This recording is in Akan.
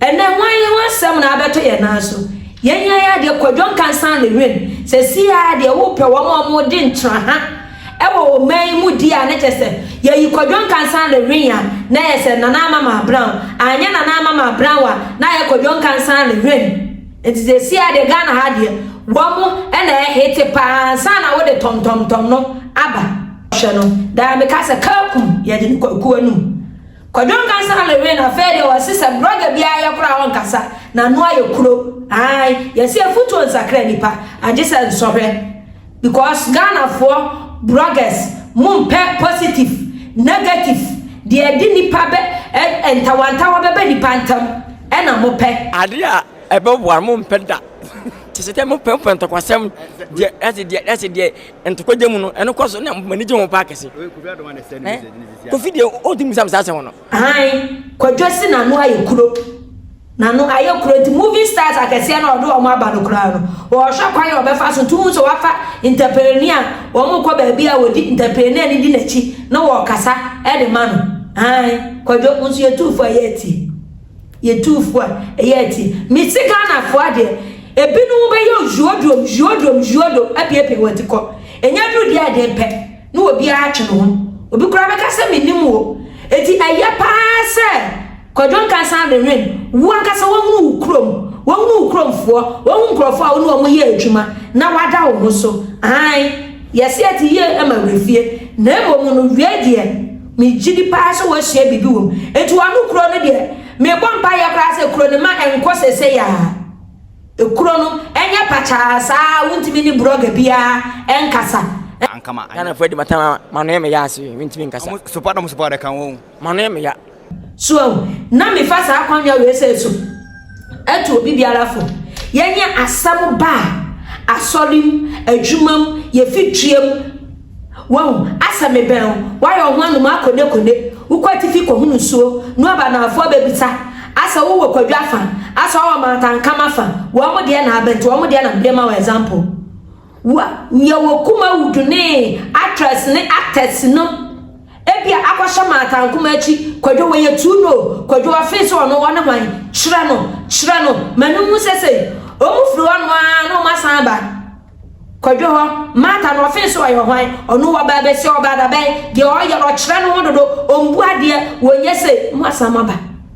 Ɛnɛ hwan ne hwan asɛm na abɛto yɛn nan so? Yɛn yɛn adeɛ Kwadwo Nkansah ne Win sɛsii ara deɛ wopɛ wɔn a wɔn de ntra ha ɛwɔ wɔ man yi mu di a na kyɛ sɛ yɛyi Kwadwo Nkansah ne Win a na yɛ sɛ Nana Amama Brown anyɛ Nana Amama Brown a na ayɛ Kwadwo Nkansah ne Win nti sɛsii ara deɛ Ghana ha deɛ wɔn ɛna ɛhete paa ansa na wode tɔmtɔmtɔm no aba. Hwɛ no daa meka sɛ Kakum yɛde no kwakuo anum. Kwadwo nkasa Halloween na afei deɛ wɔse sɛ brɔga bi ayɛ koraa a ɔnkasa, n'ano ayɛ kuro ae yɛse afutuo nsakra nipa agyesɛ nsɔhwɛ because Ghanafoɔ brɔgas mo mpɛ positive negative deɛ ɛde nipa bɛ ɛ ntawantawa bɛba nipa ntam ɛna mo pɛ. Adeɛ a ɛbɛboa no mo mpɛ da kyesɛ deɛ mo pɛ mo pɛ ntɔkwasɛm deɛ ɛse deɛ ɛse deɛ. Ntokwa gya mu no, ɛno kɔ so na m'ani gye ho paa kɛse. Kofi deɛ ɔntumi bisa me saa asɛm no. Aane, Kwadwo se n'ano ayɛ kuro. N'ano ayɛ kuro nti movie stars akɛseɛ no a ɔde wɔn aba no koraa no, ɔrehwɛ kwan a ɔbɛfa so nti wohu sɛ wafa entrepreneur a wɔkɔ baabi a wɔdi entrepreneur no di n'akyi na wɔkasa de ma no. Aane, Kwadwo, wo nso yɛ tuufo a yɛretie. Yɛ tuufo a ɛyɛ atii. Me se Ghanafoɔ adeɛ ebinom bɛyɛ ojuodrom juodrom juodom apiapia wɔn ti kɔ. Ɛnyɛ aduru deɛ a ɛden pɛ na obiara atwe ne ho. Obi koraa bɛka sɛ mennim wo. Enti ɛyɛ pa ara sɛ Kwadwo Nkansah Adenwen wo ankasa woahunu wo kurom, woahunu wo kuromfoɔ, woahu nkurɔfoɔ a wo ne wɔn yɛ adwuma na woada wo ho so. Aane, yɛse ɛte yie ma werɛfie na mmom no wieɛ deɛ, Megye di paa sɛ wɔasua biribi wom. Enti wɔano kuro no deɛ, mebɔ mpaeɛ koraa sɛ kuro no mma ɛnkɔ seesei ara. Kuro no nyɛ pakyaa saa a wontumi ne brɔga biara nkasa. Ghanafoɔ de m'atama ama m'ano yɛ me ya ase mentumi nkasa. M'ano yɛ me ya. So ahu? Na mefa saa akwannya wei sɛ so atu obi biara fo. Yɛnyɛ asɛm ba a, asɔre mu, adwuma mu, yɛfi dua mu. Wahu, asɛ mebɛn wo, woayɛ wo ho anom akonekone, wokɔ atifi kɔhunu nsuo, na ɔba na afoɔ bɛbisa, asɛ wowɔ kwadwo afa, asɛ ɔwɔ mantankam afa, wɔn deɛ na abɛn, nti wɔn deɛ na mede ma wo example. Wa, yɛ wɔ kuma wo dunee, actress ne actors no, ebia akɔhyɛ mantankoma akyi, kwadwo wɔyɛ too no, kwadwo wafee sɛ ɔno ɔne hwan, kyerɛ no, kyerɛ no, ma no nhu sɛ sei, wɔn firi hɔ nom aa na wɔn asan aba. Kwadwo hɔ, Martha no ɔfee so ɔyɛ hwan? Ɔno wɔ baa bɛsi ɔbaa dabɛn? Deɛ ɔyɛ no ɔkyerɛ no ho dodo, ɔmbu adeɛ, wɔnyɛ sei, mo asan mo aba.